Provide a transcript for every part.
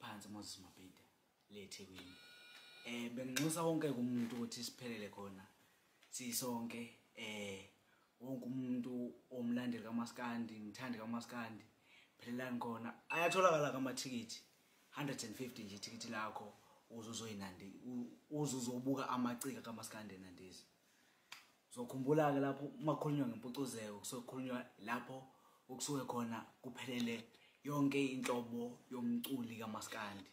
phansi moses mabhida le ethekwini um benginxusa wonke kumuntu ukuthi siphelele khona sisonke um wonke umuntu omlandeli kamaskandi ngithandi kamaskandi phelelani khona ayatholakala kamathikithi 150 nje ithikithi lakho uzuzoyinandi uzuzobuka amacika kamaskandi enandizi uzokhumbula-ke lapho uma kukhulunywa ngempucuzeko kusuke kukhulunywa lapho okusuke khona kuphelele yonke inhlobo yomculi kamaskandi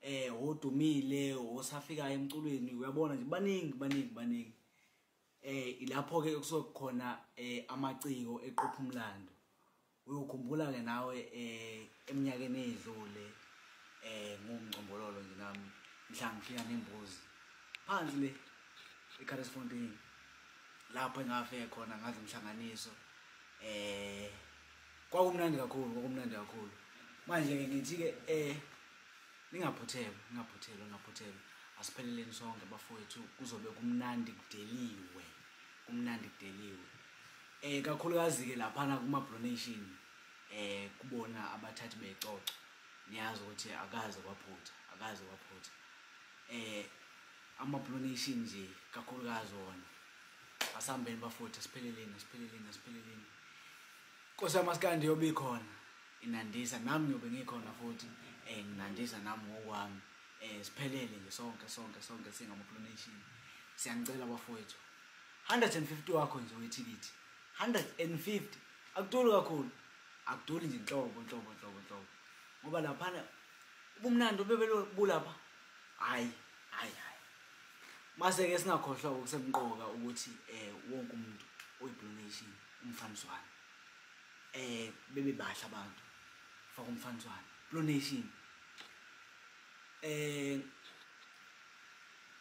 eh odumile osafika emculweni uyabona nje baningi baningi baningi eh ilapho ke kusuke khona eh amaciko eqopha umlando uyokhumbula ke nawe eh eminyakeni edlule eh ngumngcombololo nje nami mhla ngifika nembuzi phansi le eCarlsfontein lapho engafike khona ngaze umhlanganiso eh kwakumnandi kakhulu kwakumnandi kakhulu manje ke ngithi ke eh ningaphuthelwa ningaphuthelwa ningaphuthelwa asipheleleni sonke bafowethu kuzobe kumnandi kudeliwe kumnandi kudeliwe Eh kakhulukazi ke laphana kuma pronation eh kubona abathathi becoco niyazi ukuthi akaze kwaphutha akaze kwaphutha eh ama pronation nje kakhulukazi wona asambeni bafutha sipheleleni sipheleleni sipheleleni Nkosi yamaskandi yobe ikhona inandisa nami ngiyobe ngikhona futhi eh nginandisa nami ngokwami eh siphelele nje sonke sonke sonke singama pronation siyanicela bafowethu 150 wakho nje wethikithi 150 akuduli kakhulu akuduli nje nhlobo nhlobo nhlobo nhlobo ngoba laphana ubumnandi obebelobulapha hayi hayi hayi mase-ke singakhohlwa okusemqoka ukuthi um wonke umuntu oyi-donation umfaniswane um bebe bahle abantu faka umfaniswane donation um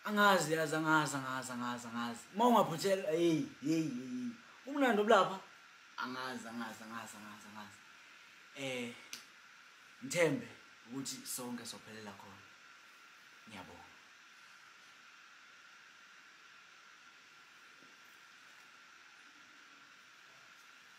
angazi yazi angazi angazi angazi angazi uma ungaphuthelwa heyi heyi heyi umnandi obulapha angazi angazi angazi angazi angazi um ngithembe ukuthi sonke sophelela khona ngiyabonga